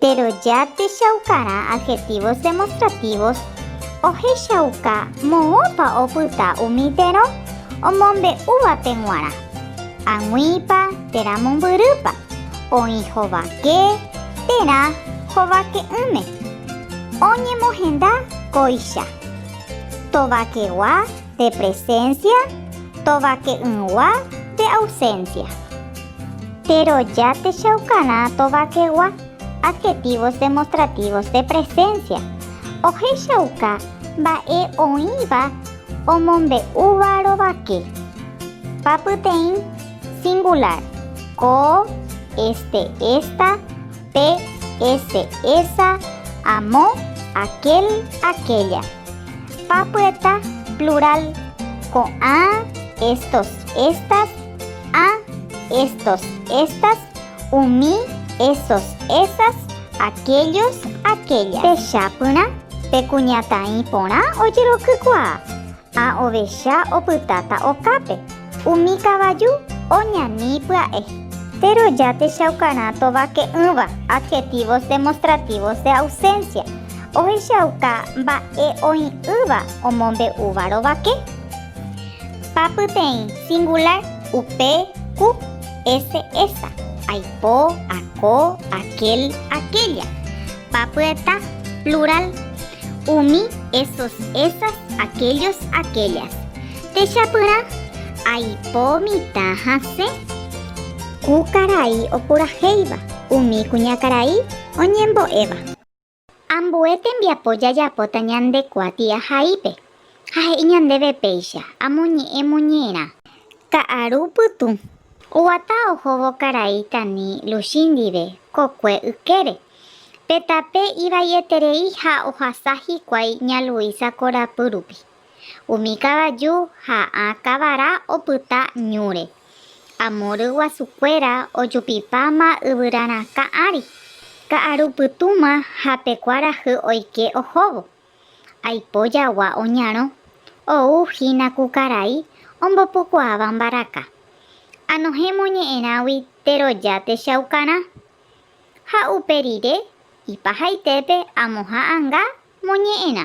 Péro ja techaukarã adhetívos demostrativos ohechauka moõpa opyta umi térõ omombe'úvape g̃uarã, ag̃uípa, térã mombyrýpa, oĩ hovake, térã hovake'ỹme, oñemohenda kóicha, tovakegua, De presencia, tovake'ỹgua de ausencia. Péro ja techaukarã tovakegua adjetivos demostrativos de presencia, ohechauka mba'e oĩva omombe'úva rovake. Papyteĩ singular, ko, este, esta, pe, ese, esa, amo, aquel, aquella. Papyeta, plural, ko'ã, estos, estas, a, estos, estas, umi, esos, esas, aquellos, aquellas. Techapyrã, pe kuñataĩ porã ojerokykuaa, a ovecha opytáta okápe. Umi kavaju oñani pya'e. Péro ja techaukarã tovake'ỹva adjetivos demostrativos de ausencia, ohechauka mba'e oĩ'ỹva omombe'úva rovake. Pa pyteĩ singular, upe, ku, ese, esa, aipo, ako, aquel, aquella. Pa pyeta, plural, umi, esos, esas, aquellos, aquellas. Techapyrã, Aipo mitã hasẽ. Ku karai opurahéiva. Umi kuñakarai oñembo'éva. Ambue tembiapo jajapóta ñande kuati ahaípe, ha he'i ñandéve péicha, amoñe'ẽ moñe'ẽrã. Ka'aru pytũ. Oguata ohóvo karai tani Luchi ndive kokue ykére. Pe tape ivai'eterei ha ohasa hikuái ña Luisa korapy rupi. Umi kavaju ha ã kavara opyta ñúre. Amo ryguasukuéra ojupipáma yvyra rakã ári, ka'aru pytũma ha pe kuarahy oike ohóvo. Aipo jagua oñarõ, ou hína ku karai ombopukuaáva mbaraka. Anohẽ moñe'ẽrãgui teroja techaukarã. Ha upe rire, ipahaitépe amoha'ãnga moñe'ẽrã.